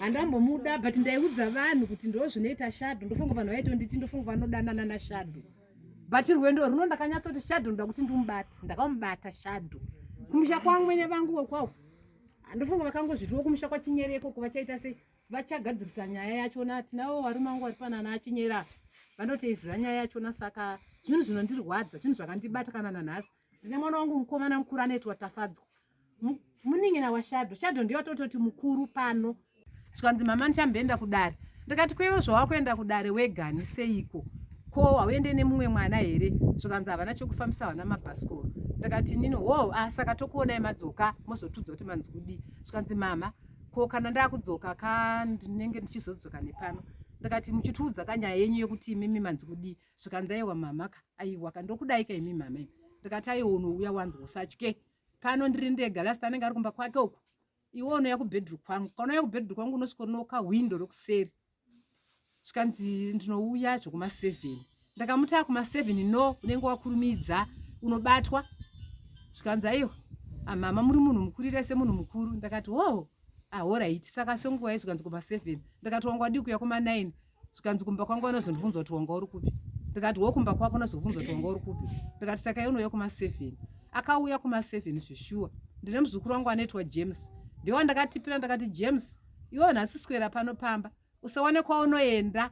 handambomuda but ndaiudza vanhu kuti ndo zvinoita shadho ndofunga vanhu vaitonditi ndofunga vanodanana nashadho but rwendo runo ndakanyatsoti shadho ndoda kuti ndimubate ndakamubata shadho kumusha kwamwene vangu wekwawo handofunga vakangozvitiwo kumusha kwachinyere ikoko vachaita sei vachagadzirisa nyaya yachona atinavo varume vangu vari panana achinyera vanoteiziva nyaya yachona saka zvinhu zvinondirwadza zvinhu zvakandibata kana nanhasi Ndine mwana wangu mukomana mukuru anoitwa Tafadzwa. Munin'ina waShado. Shado ndiyo atototi mukuru pano. Zvikanzi mama ndichamboenda kudare. Ndikati kwewo zvawakuenda kudare wegani seiko? Ko hauende nemumwe mwana here? Zvikanzi havana chokufambisa vana mabhasikoro. Ndikati nini wo oh, asaka ah, tokuonai madzoka mozotudza kuti manzi kudii. Zvikanzi mama ko kana ndakudzoka ka ndinenge ndichizodzoka nepano ndikati muchitiudza kanyaya yenyu yekuti imimi manzi kudii zvikanzi aiwa mama ka aiwa ka ndokudai ka imi mama imi ndikati aiwa unouya wanzi usatye pano ndiri ndega last anenge ari kumba kwake uku iwe unouya kubedroom kwangu kana uya kubedroom kwangu unosvika unoka hwindo rokuseri zvikanzi ndinouya zvekumaseven ndakamuti akumaseven no unenge wakurumidza unobatwa zvikanzi aiwa amama ah, muri munhu mukuru ita semunhu mukuru ndakati hoo ahoraiti saka senguva yezvikanzi kumaseven ndakati wanga wadii kuya kumanine zvikanzi kumba kwangu anozondibvunza kuti wanga uri kupi ndikati wo kumba kwako anozobvunza kuti wanga uri kupi ndikati saka iye unouya kumaseven akauya kumaseven zveshuwa ndine muzukuru wangu anoitwa james ndiwo andakatipira ndakati james iwo nhasi swera pano pamba usawane kwaunoenda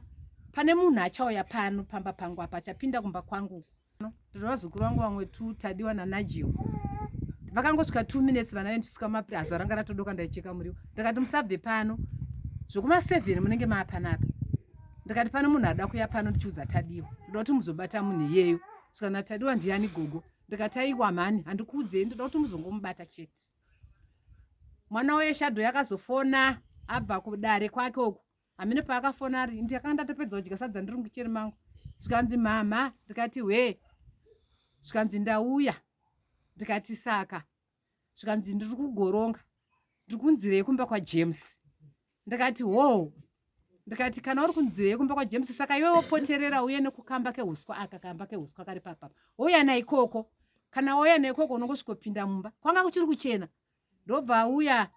pane munhu achauya pano pamba pangu apa achapinda kumba kwangu Ndiri vazukuru vangu vamwe two Tadiwa naNigel. Vakangosvika two minutes vana vendisvika mapiri azuva ranga ratodoka ndaicheka muriwo. Ndikati musabve pano. Zvokuma seven munenge maapanapa. Ndikati pano munhu ada kuya pano ndichiudza Tadiwa. Ndoda kuti muzobata munhu iyeyo. Saka naTadiwa ndiyani gogo? Ndikati aiwa mhani handikuudzei ndoda kuti muzongomubata chete. Mwana weye shadow yakazofona abva kudare kwake uku. hamene paakafona ari ndakanga ndatopedza kudya sadza ndiri mukicheni mangu zvikanzi mhamha ndikati hwee zvikanzi ndauya ndikati saka zvikanzi ndiri kugoronga ndiri kunzira yekumba kwajames ndikati hoo ndikati kana uri kunzira yekumba kwajames saka iwe wopoterera uye nekukamba keuswa aka kamba keuswa kari papapa wouya naikoko kana wauya naikoko unongosvikopinda mumba kwanga kuchiri kuchena ndobva auya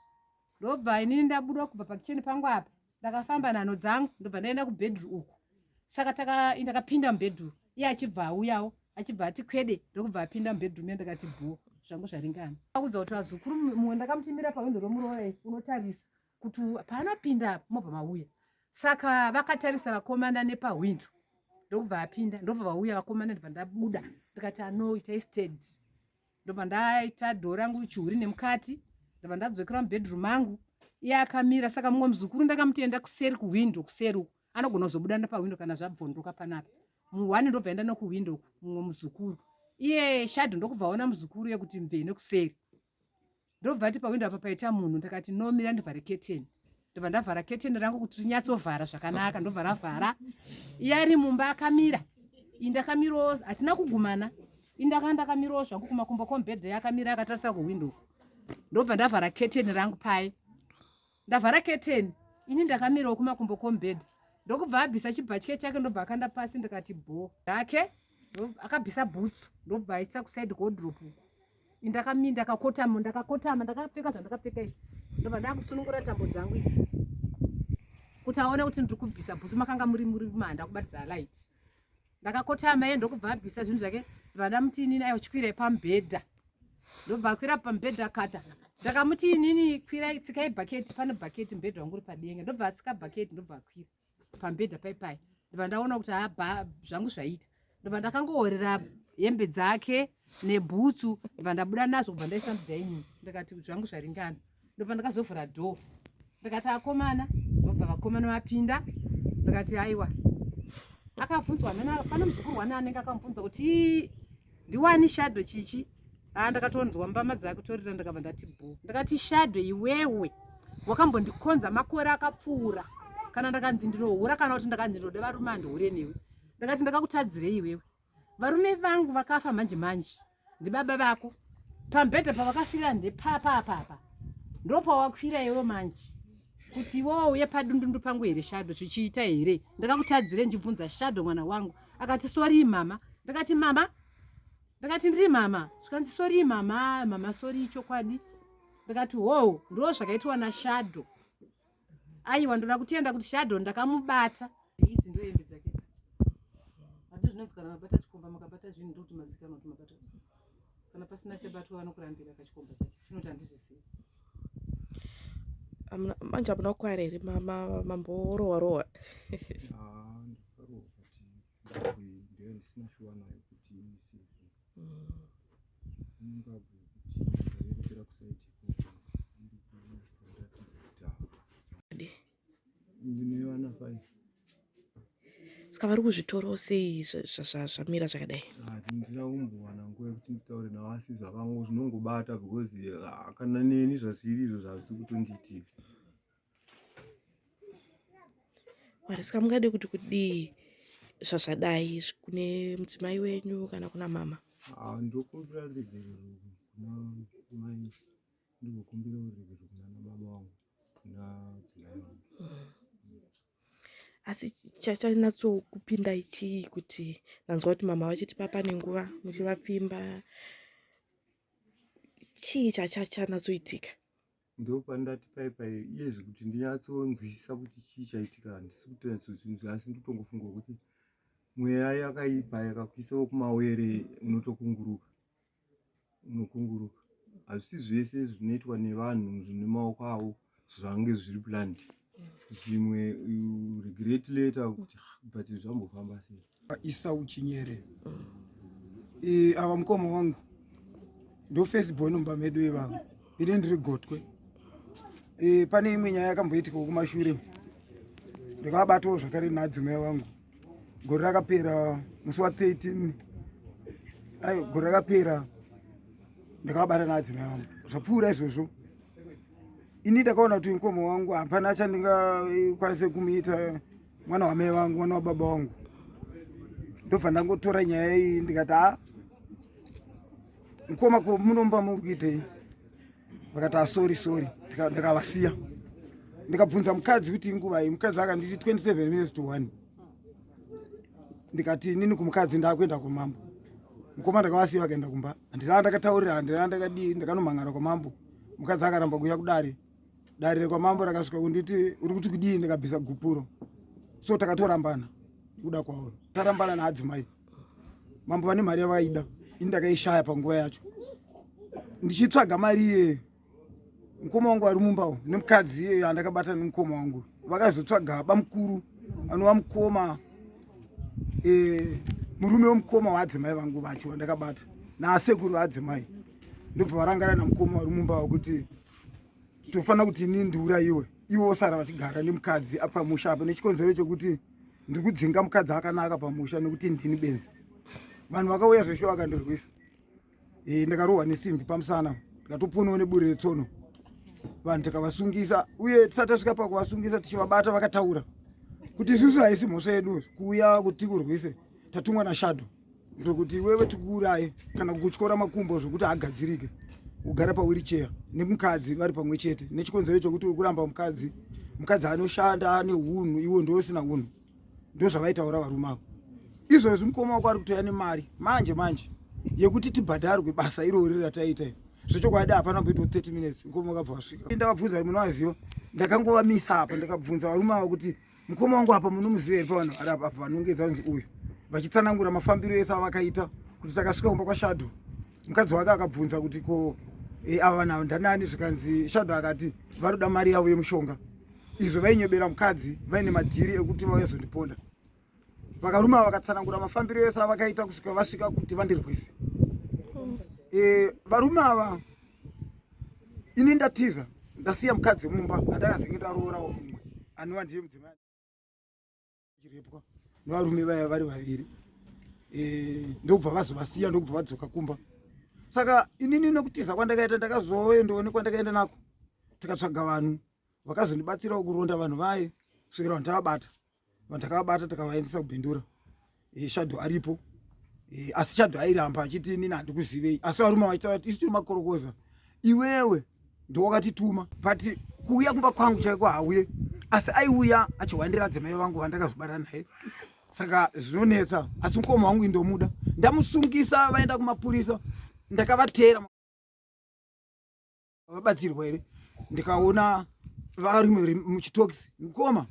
ndobva inini ndabuda kubva pakicheni pangu apa ndakafamba nhano dzangu ndobva ndaenda kubedru uku saka takapinda mubedru iye achibva auyawo achibva ati kwede ndokubva apinda mubedru me ndakati bho zvangu zvaringana akudza kuti vazukuru mumwe ndakamutimira pawindo romuroe unotarisa kuti paanopinda mobva mauya saka vakatarisa vakomana nepawindo ndokubva apinda ndobva vauya vakomana ndibva ndabuda ndikati anoita istedi ndobva ndaita dhoo rangu chihuri nemukati ndabva ndadzokera mubedroom mangu iye akamira saka mumwe muzukuru ndakamutenda kuseri kuhwindo kuseri uku anogona kuzobuda ndapahwindo kana zvabvondoka panapa muhwani ndobva enda nokuhwindo uku mumwe muzukuru iye shadho ndokubva aona muzukuru yekuti mvee nekuseri ndobva ati pawindow apa paita munhu ndikati no mira ndivhare keteni ndobva ndavhara keteni rangu kuti rinyatsovhara zvakanaka ndobva ravhara iye ari mumba akamira iyi ndakamirawo hatina kugumana iyi ndakanga ndakamirawo zvangu kumakumbo kombedhe akamira akatarisa kuwindow ndobva ndavhara keteni rangu paye ndavhara keteni ini ndakamirawo kumakumbo kombhedha ndokubva abvisa chibhatye chake ndobva akanda pasi ndikati bho rake akabvisa bhutsu ndobva aisa kusaidi kodrop uku indakami ndakakotama ndakakotama ndakapfeka zvandakapfeka izvi ndobva ndakusunungura tambo dzangu idzi kuti aone kuti ndiri kubvisa bhutsu makanga muri muri manda kubatisa light ndakakotama iye ndokubva abvisa zvinhu zvake vana muti inini ayo chikwirai pamubhedha ndobva akwira pamubhedha kata ndakamuti inini kwirai tsikai bhaketi pane bhaketi mubhedha wangu uri padenga ndobva atsika bhaketi ndobva akwira pamubhedha paipai ndobva ndaona kuti haba zvangu zvaita ndobva ndakangohorera hembe dzake nebhutsu ndobva ndabuda nazvo kubva ndaisa mudaini ndikati zvangu zvaringana ndopandakazovhura door ndikati akomana ndobva vakomana vapinda ndikati aiwa akabvunzwa pane muzukuru wani anenge akamubvunza kuti ndiwani shado chichi aa ah, ndakatonzwa mbama dzakutorira ndakabva ndati bho ndakati shado iwewe wakambondikonza makore akapfuura kana ndakanzi ndinohura kana kuti ndakanzi ndinoda varume andihure newe ndakati ndakakutadzirei iwewe varume vangu vakafa manje manje ndibaba vako pambhedha pavakafira ndepapa apapa ndopawakwira iwe manje kuti iwewo uye padundundu pangu here shado chichiita here ndakakutadzire ndibvunza shado mwana wangu akati sorii mama ndakati mama ndakati ndiri mama zvikanzi sorii mama mama sorii chokwadi ndakati hoo ndo zvakaitwa nashado Aiwa ndoda kutenda kuti shadow ndakamubata. Idzi ndo hembe dzake idzi. Hadi zvinonzi kana mabata chikomba makabata zvinhu ndokuti mazikanwa kuti mabata. Kana pasina chabatwa vanokurambira kachikomba chake. Chinoti handizvisiyi. Manje hamuna kukwara here mambo orowa rowa. Ah, ndikarowa kuti ndisina shuwa nayo kuti saka vari kuzvitoro sei zvamira zvakadai ah, ndina kumbowana nguva yekuti nditaure navo asi zvakango zvinongobata because ah, kana neni zvazviri izvo zvazvisi kutondiitika Mwari saka mungade kuti kudii zvazvadai kune mudzimai wenyu kana kuna mama ah, ndokumbira ruregerero kuna mai ndikukumbira ruregerero kuna nababa wangu kuna dzimai wangu asi chachanyatsokupinda ichii kuti ndanzwa kuti mama vachiti papa nenguva muchivapfimba chii chachachanatsoitika ndopandati pai pai iyezvi kuti ndinyatsonzwisisa kuti chii chaitika handisi kutonyatsonzvinzwa asi ndotongofunga kuti mweya yakaipa yakakuisawo kumawere unotokunguruka unokunguruka hazvisi zvese zvinoitwa nevanhu zvine maoko avo zvange zviri plandi zvimwe regret later kuti ah, but zvambofamba sei Isau Chinyere e, ava mukoma wangu ndo first born mumba medu ivavo ini ndiri gotwe e, pane imwe nyaya yakamboitika kumashure ndikabatawo zvakare naadzimai vangu gore rakapera musi wa 13 ai gore rakapera ndakabata naadzimai vangu zvapfuura izvozvo ini ndakaona kuti mukoma wangu hapana chandingakwanise kumuita mwana wamai vangu mwana wababa wangu ndobva ndangotora nyaya iyi ndikati a mukoma ko munomba muri kuitei vakati asori sori ndikavasiya ndikabvunza mukadzi kuti inguvai mukadzi akanditi 27 minutes to 1 ndikati nini kumukadzi ndakuenda kumambo mukoma ndakavasiya vakaenda kumba handina ndakataurira handina ndakadii ndakanomhan'ara kwamambo mukadzi akaramba kuuya kudare dare rekwamambo rakasvika kunditi uri kuti kudii ndikabvisa gupuro so takatorambana nekuda kwauro tarambana naadzimai mambo vane mari yavaida ini ndakaishaya panguva yacho ndichitsvaga mari iyeyo mukoma wangu ari mumbawo nemukadzi iyeyo andakabata nemukoma wangu vakazotsvaga bamukuru anova mukoma eh, murume wemukoma waadzimai vangu vacho vandakabata naasekuru vaadzimai ndobva varangana namukoma vari mumba wakuti tofanira kuti ini ndiura iwe iwe osara vachigara nemukadzi apamusha apa nechikonzero chekuti ndiri kudzinga mukadzi akanaka pamusha nekuti ndini benzi vanhu vakauya zvesho vakandirwisa eh, ndakarohwa nesimbi pamusana ndikatoponewo neburi retsono vanhu tikavasungisa uye tisati tasvika pakuvasungisa tichivabata vakataura kuti isusu haisi mhosva yedu kuuya kuti kurwise tatumwa nashadho ndokuti iwewe tikuuraye kana kukutyora makumbo zvokuti agadzirike ugare pawiricheya nemukadzi vari pamwe chete nechikonzero chokuti uri kuramba mukadzi mukadzi anoshanda ane unhu iwo ndousina unhu ndozvavaitaura varume avo izvozvi mukoma wako ari kutoya nemari manje manje yekuti tibhadharwe basa irori rataita zvechokwadi hapana mboitwa 30 minutes mukoma wakabva wasvika ndakabvunza ri munovaziva ndakangovamisa apa ndakabvunza varume ava kuti Mukoma wangu apa munomuziva here pavanhu vari apa vanongedza kunzi uyu vachitsanangura mafambiro ese avakaita kuti takasvika kumba kwashadho mukadzi wake akabvunza kuti ko e, ava vanhu avo ndanani zvikanzi shadho akati vanoda mari yavo yemushonga izvo vainyebera mukadzi vaine madhiri ekuti vauyazondiponda Vakarume ava vakatsanangura mafambiro ese avakaita kusvika vasvika kuti vandirwise. Eh, varume ava ini ndatiza ndasiya mukadzi mumba andakazenge ndaroorawo mumwe anova ndiye mudzimai chirepwa nevarume vaya vari vaviri eh, ndokubva vazovasiya ndokubva vadzoka kumba saka inini nekutiza kwandakaita ndakazoendoone kwandakaenda nako tikatsvaga vanhu vakazondibatsirawo kuronda vanhu vaye kusvikira vanhu tavabata vanhu takavabata takavaendesa kubindura eh, shadho aripo eh, asi shadho airamba achiti inini handikuzivei asi varume vaitati isu tiri makorokoza iwewe ndowakatituma but kuuya kumba kwangu chaiko hauye asi aiuya achihwandira dzimai vangu vandakazobata naye saka zvinonetsa asi mukoma wangu indomuda ndamusungisa vaenda kumapurisa ndakavateera vabatsirwa here ndikaona vari muchitokisi mukoma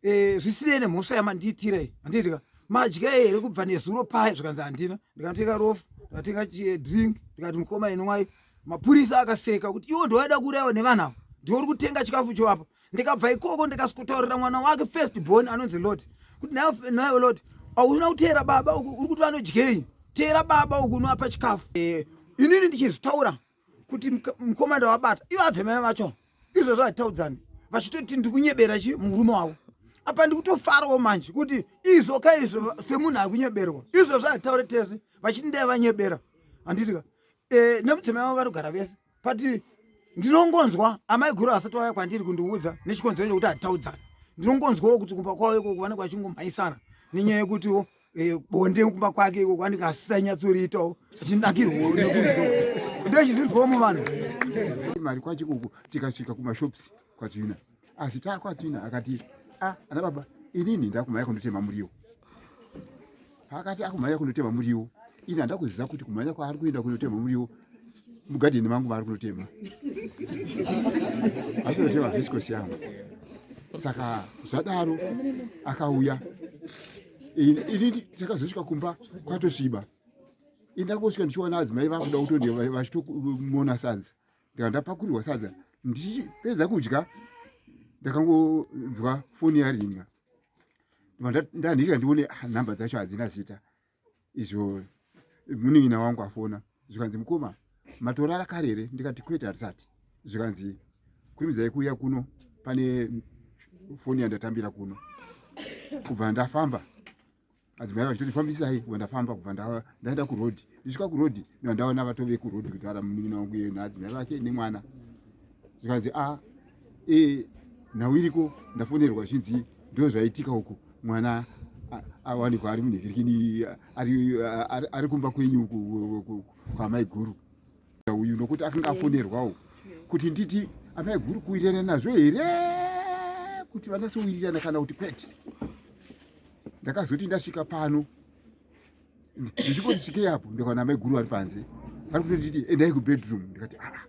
eh, zvisinei nemhosva yamandiitira iyi handiitika madya here kubva nezuro paye zvikanzi handina ndikanotenga rofu ndikatenga drink ndikati mukoma inwai mapurisa akaseka kuti iwo ndoaida kureva nevanhu avo ndiwo uri kutenga chikafu choapa ndikabva ikoko ndikasikotaurira mwana wake first born anonzi lot kuti nayo lot auna kuteera baba uku uri kuti vanodyei teera baba uku unoapa chikafu eh, inini ndichizvitaura kuti mkomana ndawabata ivo adzimai vacho izvozvo hatitaudzani vachitoti ndikunyebera chi murume wavo apa ndikutofarawo manje kuti izvo ka izvo semunhu akunyeberwa izvozvo hatitaure tese vachiti ndai vanyebera handitika e, eh, nemudzimai vavo vanogara vese but ndinongonzwa amai guru asati vaya kwandiri kundiudza nechikonzero chekuti hatitaudzani ndinongonzwawo kuti kumba kwavo ikoko vanenge vachingomhaisana nenyaya yekutiwo Eh, bonde kumba kwake iko kwanika asisanyatsoriitawo achinakirwo ndochizinzwamo vanhu mari kwacho kuku tikasvika kumashops kwatina asi takwatina akati a ah, ana baba inini ndakumhanya kundotema muriwo paakati akumhanya kundotema muriwo ini handa kuziva kuti kumhanya kwaari kuenda kundotema muriwo mugadheni mangu maari kunotema ari kunotema visikosi yangu saka zvadaro akauya ini takazosvika kumba kwatosviba indakosvika ndichiona adzimai vakuda kutondi vachitomona sadza ndika ndapakurirwa sadza ndichipedza kudya ndakangonzwa foni yaringa ndandirika ndione ah, nhamba dzacho hadzina zita izvo munin'ina wangu afona zvikanzi mukoma matorara kare here ndikati kwete hatisati zvikanzi kurimidzai kuuya kuno pane foni yandatambira kuno kubva ndafamba adzimai vachitoti fambisai kubva ndafamba kubva ndaenda kuroad ndisvika kuroad ndandaona vatove kuroad kutaura munin'ina wangu yena adzimai vake nemwana zvikanzi a ah, e nhau iriko ndafonerwa zvinzi ndo zvaitika uku mwana awanikwa ari munhikirikini ari kumba kwenyu uku kwamaiguru uyu nokuti akanga afonerwawo kuti nditi amaiguru kuwirirana nazvo here kuti vanasowirirana kana kuti kwete ndakazoti ndasvika pano ndichikoti svikei apo ndikaona mai guru vari panze vari kutonditi endai kubedroom ndikati aa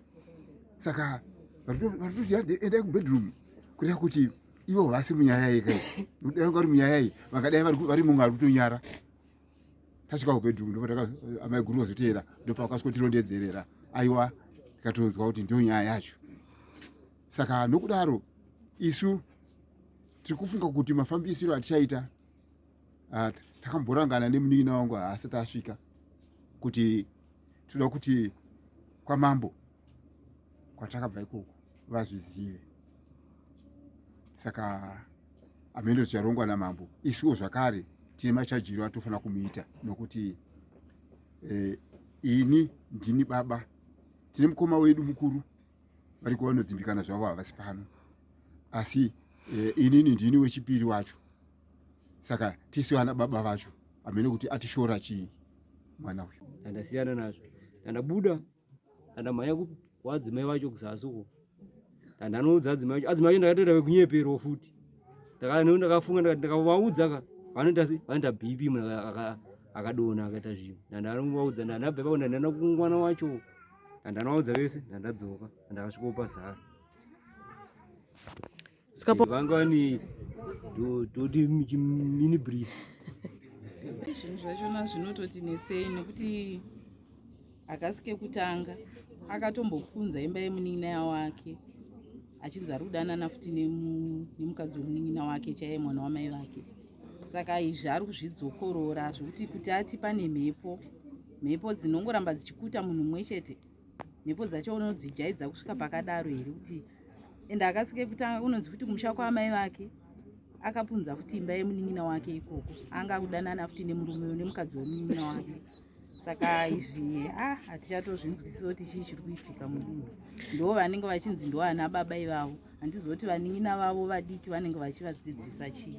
saka varikutoti endai kubedroom kureva kuti ivo vasi munyaya yeka dai vanga vari munyaya iyi vangadai vari mumwe ari kutonyara tasvika kubedroom ndoamai guru vazoteera ndopavakasikotirondedzerera aiwa tikatonzwa kuti ndiyo nyaya yacho saka nokudaro isu tiri kufunga kuti mafambisiro atichaita ah, takamborangana nemunin'ina wangu haasati asvika kuti tinoda kuti kwamambo kwatakabva ikoko vazvizive saka amene zvicharongwa namambo isuwo zvakare tine machajiro atofanira kumuita nokuti eh, ini ndini baba tine mukoma wedu mukuru vari kuva vanodzimbikana zvavo havasi pano asi eh, inini ndini wechipiri wacho saka tisu vana baba vacho amene kuti atishora chii mwana uyu andasiyana nazvo andabuda andamhanya kuwadzimai vacho kuzasi uko andanoudza adzimai vacho adzimai vacho ndakatoita vekunyeperwa futi ndakafunga ndakati ndakavaudza ka vanoita se vanoita bp munhu akadona akaita zvinhu ndandaanovaudza ndanabva ipapo ndandaenda kumwana wacho ndandanovaudza vese ndandadzoka ndakasvikopa zasi Skapo. Vangani toti mini brief. Zvinhu zvachona zvinototi netsei nekuti hakasi kekutanga akatombokunza imba yemunin'ina wake achinzi ari kudanana futi nemukadzi wemunin'ina wake chaiye mwana wamai vake saka izvi ari kuzvidzokorora zvekuti kuti ati pane mhepo mhepo dzinongoramba dzichikuta munhu mumwe chete mhepo dzacho unodzijaidza kusvika pakadaro here kuti ende akasike kutanga kunonzi futi kumusha kwaamai vake akapunza futi imba yemunin'ina wake ikoko anga akudanana futi nemurume une mukadzi wemunin'ina wake saka izvi ah hatichatozvinzwisisa kuti chii chiri kuitika mudunhu ndo vanenge vachinzi ndo ana baba ivavo handizoti vanin'ina vavo vadiki vanenge vachivadzidzisa chii